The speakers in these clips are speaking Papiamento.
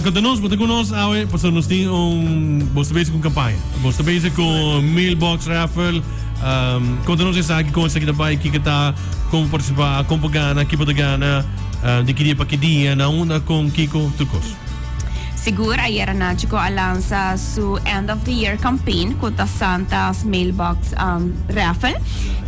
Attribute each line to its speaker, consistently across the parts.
Speaker 1: Konta nos, bo ta ku nos awe pasobra nos tin un, bos ta bezig ku un kampaña, bos ta bezig ku un mailbox raffle. Konta nos esaki, kon esaki ta bai, kiko ta, kon bo partisipa, kon bo gana, ki bo ta gana, di ki dia pa ki dia, na unda, kon, kiko, tur kos. Sigur,
Speaker 2: ayera Nachico a lansa su End of the Year Campaign ku ta Santa's Mailbox Raffle.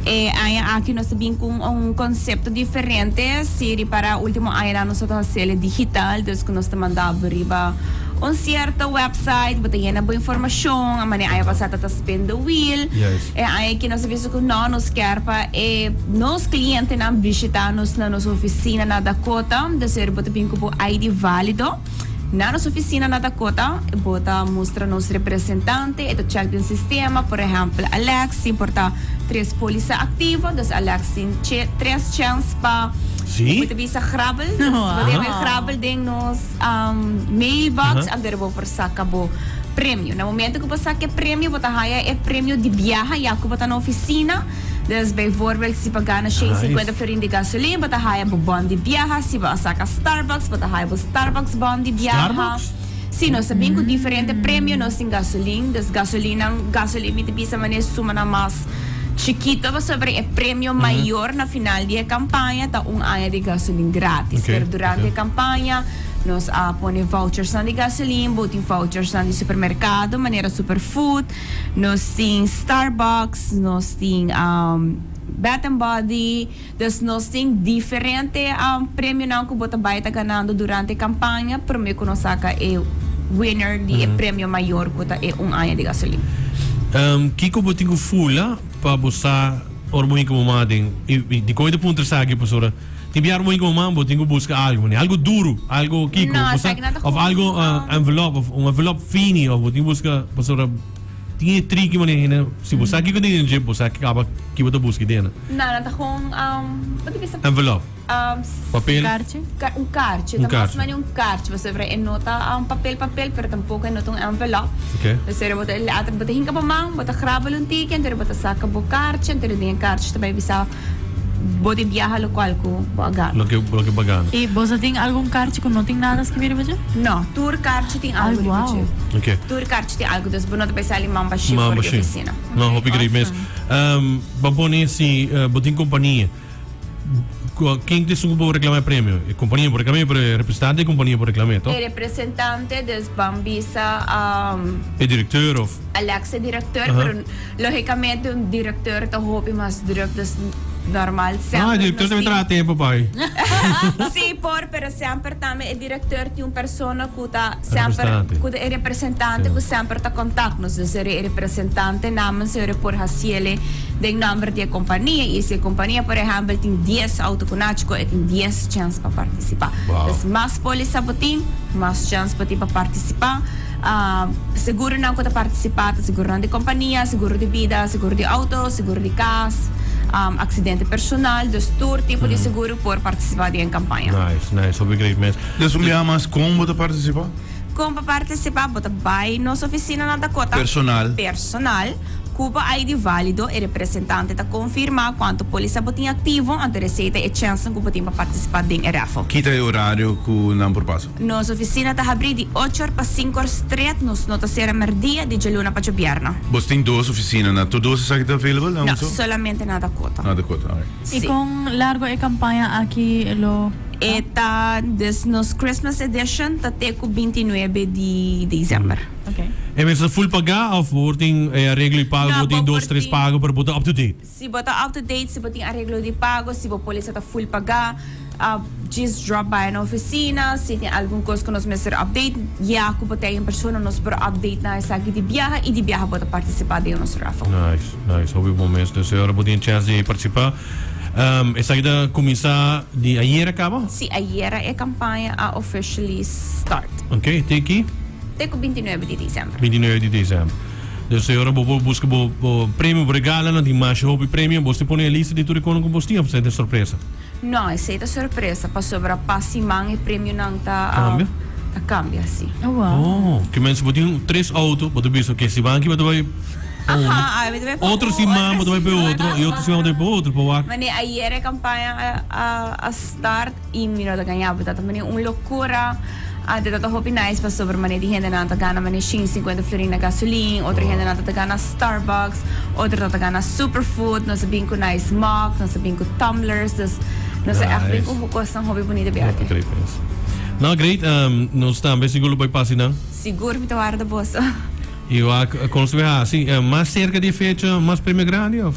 Speaker 2: E aña aki nos ta bin ku un konsepto diferente, si ripara ultimo añanan nos tabata hase'e digital, Dus cu nos ta mandá bo riba un cierto website, bo ta yena bo informacion, a manera aña pasá ta ta spin the wheel. Yes. E aña ki
Speaker 1: nos a bisa
Speaker 2: cu no, nos kier pa e nos clientenan bishita nos na nos oficina na Dakota. Dus ora bo ta bin cu bo ID valido na nos oficina na Dakota, bo ta mustra nos representante, e ta check den sistema, por ehempel, Alex tin por ta tres poliza activo, dus Alex tin che tres chens pa. Sí. Bo ta bisa
Speaker 1: grabbel?
Speaker 2: Nos bo ta haber grabbel den nos um, mailbox a der bo por saca bo premio. Na momento cu bo saca e premio, bo ta haya e premio di biaha ya cu bo ta na oficina. Dus bijvoorbeeld, si bo gana 650 florin di gasolina, bo ta haya bo bon di biaha. Si bo a saca Starbucks, bo ta haya bo Starbucks bon di biaha. Starbucks? Sí, nos
Speaker 1: a bin cu
Speaker 2: diferente premio nos tin gasolin, dus gasolinan, gasolin mi ta bisa manera sumanan mas chikito pasobra e premio mayor na final di e campaña ta un aña di gasolin gratis. Oké, Pero durante oké. e
Speaker 1: campaña
Speaker 2: nos a pone vouchersnan di gasolin, bo tin vouchersnan di supermercado manera Superfood, nos tin Starbucks, nos tin am, Bath and Body, Dus nos tin diferente premionan ku bo ta bai ta ganando durante e kampaña, promé ku nos saka e winner di e premio mayor ku ta e un aña di gasolina. Kiko
Speaker 1: bo tin ku fula pa bo sa ora bo hinka mama aden? I dikon i ta puntra esaki pasobra ora tin biaha ora bo hinka mama bo tin ku buska algu manera algu duru, algu kiko? No esaki no ta hopi. Òf algu envelop òf un envelop fini òf bo tin ku buska pasobra. Tin e tri ki bo na hende, si bo sa kiko tin den dje, bo sa kaba ki bo ta buska i den. Na, nan ta hon,
Speaker 2: bo ta bisa.
Speaker 1: Envelop. Papel. Un
Speaker 2: karchi. Un karchi, ta mas mane un karchi pasobra e no ta papel papel pero tampoko e no ta un envelop. Ok. Pasobra bo
Speaker 1: ta,
Speaker 2: bo ta hinka bo man, bo ta grabal un teken, anto bo ta saka bo karchi, anto den e karchi ta bai bisa. Bo tin biaha lokual ku bo a gana. Loke bo a gana.
Speaker 1: I boso a tin algun
Speaker 3: karchi ku no tin nada skibí riba dje? No. Tur karchi
Speaker 2: tin algu riba dje. Ai, wou! Oke. Tur
Speaker 3: karchi
Speaker 1: tin algu,
Speaker 2: dus bo no ta bai sali mamba ship for di ofisina. Mamba ship. No, hopi great mes.
Speaker 1: Awesome. Bo pone si bo tin kompania, ken ta esun ku por reklamá e premio? E kompania por reklam'é, pero e representante di e kompania por reklam'é, to? E representante,
Speaker 2: dus ban bisa. E
Speaker 1: direktor òf. Alex e direktor,
Speaker 2: pero. Lógicamente un director ta hopi mas druk dus normal semper nos tin. No, e director tambe ta laga tempo
Speaker 1: pa e. Sí
Speaker 2: por, pero semper tambe e director tin un persona cu ta semper cu ta e representante cu semper ta contact nos. Dus e representante namen su por haciele den nomber di e compania y si e compania por ehempel tin dies auto cu naci cu e tin dies chance pa participa. Wow. Dus mas
Speaker 1: póliza bo
Speaker 2: tin, mas chance bo tin pa participa. Seguro nan cu ta participa ta seguronan di compania, seguro di bida, seguro di auto, seguro di cas, accidente personal. Dus tur tipo di seguro por participa di e campaña. Nice, nice. Hopi great
Speaker 1: mes. Des un biaha mas con
Speaker 4: bo ta participa? Con pa participa
Speaker 2: bo ta bay nos oficina na Dakota. Personal. Personal, cu bo ID valido. E representante ta confirma cuanto polisa bo tin activo anto e receta e chancenan cu bo tin pa participa den e raffle. Kita e horario
Speaker 4: cu nan por pasa? Nos oficina ta habrí
Speaker 2: di ochor pa sincor stret, nos no ta cera merdia di djaluna pa djobierno. Bos tin dos oficina
Speaker 4: na tur dos esaki ta available na un No, so? solamente
Speaker 2: na Dakota. Na Dakota, alright. I
Speaker 4: Sí. con largo
Speaker 3: e campaña aki lo ta? E ta,
Speaker 2: dus nos Christmas edition ta te cu binti nuebe di diciember. Ok. E mes
Speaker 3: ta full pagá
Speaker 1: of bo tin e areglo y pago, No, bo tin bo dos por tres tin. pago pero bo ta up to date? Si bo ta up to date,
Speaker 2: si bo tin areglo di pago, si bo polisa ta full pagá, djis drop by na oficina. Si tin algun cos cu nos mester update, ya cu bo ta en persona nos por update nan esaki di biaha y di biaha bo ta participa den nos raffle. Nice, nice. Hopi bon
Speaker 1: mes. Nos e ora bo tin e chance di participa. Esaki ta cuminsa di ayer a caba? Si, ayera e
Speaker 2: campaña a officially start. Ok, te ki? Te cu
Speaker 1: binti nuebe
Speaker 2: di december. Binti nuebe di december.
Speaker 1: Dus e ora bo por buska bo premio, bo regalonan, tin masha hopi premio, bos tin pone e lista di tur e konan ku bos tin of esei ta sorpresa? No, esei ta
Speaker 2: sorpresa pasobra pa siman e premionan ta
Speaker 1: kambia,
Speaker 2: si. Oh,
Speaker 3: ke mester bo tin
Speaker 1: tres outo, bo ta bisa oke siman aki bo ta bai pa unu, otro siman bo ta bai pa e otro i otro siman bo ta bai pa otro pa wak. Mane ayer e kampaña
Speaker 2: a start. I mi no ta gañá bo tata mane un lokura. Ante tata hopi nice pasobra mane di hendenan ta gana mane shin sinkuenta florin na gasolin, otro hendenan ta ta gana Starbucks, otro ta ta gana Superfood, nos a bin ku nice mug, nos a bin ku tumblers, dus nos a ègt bin ku Nice. kosnan hopi bunita bia Hopi ate. trei pens.
Speaker 1: No, great. Ehm, nos tambe sigur lo bai pasa nan. Sigur mi ta warda
Speaker 2: boso. I wak,
Speaker 1: kon su a hasi? Eh, mas serka di e fecha mas premio grandi, òf?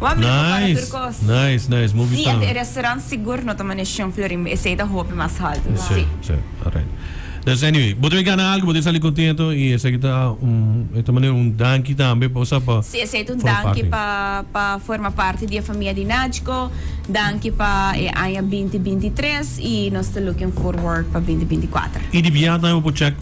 Speaker 1: Nice, nice, nice, movie staan. Si, ente e restaurant sigur
Speaker 2: no ta maneshon florimba, esei ta hopi mas haltu. Si.
Speaker 1: Si, alright. Des anyway, bo ta bin gana algu, bo ta bin sali kontentu i esaki ta un, e ta manera un danki tambe pa usa pa. Si, esei ta un danki
Speaker 2: pa pa forma parti di e famia di Nachco, danki pa e aña binti binti tres i nos ta looking forward pa binti binti kuater. I di biaha tambe bo por
Speaker 1: chek.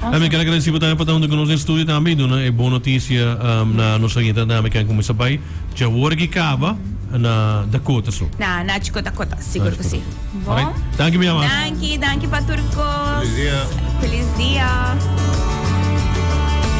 Speaker 1: Awesome. Ami kel agradesí pa Tania pa ta huntu ku nos den studio tambe i duna e bon notisia na nos oyente tambe ken kuminsá bai dja wor aki kaba na Dakota so. Na na Chiko Dakota,
Speaker 2: sigur ku si. Bon. Alraight. Danki mi
Speaker 1: amas. Danki,
Speaker 2: danki
Speaker 4: pa
Speaker 1: tur kos.
Speaker 2: Feliz dia. Feliz
Speaker 4: dia.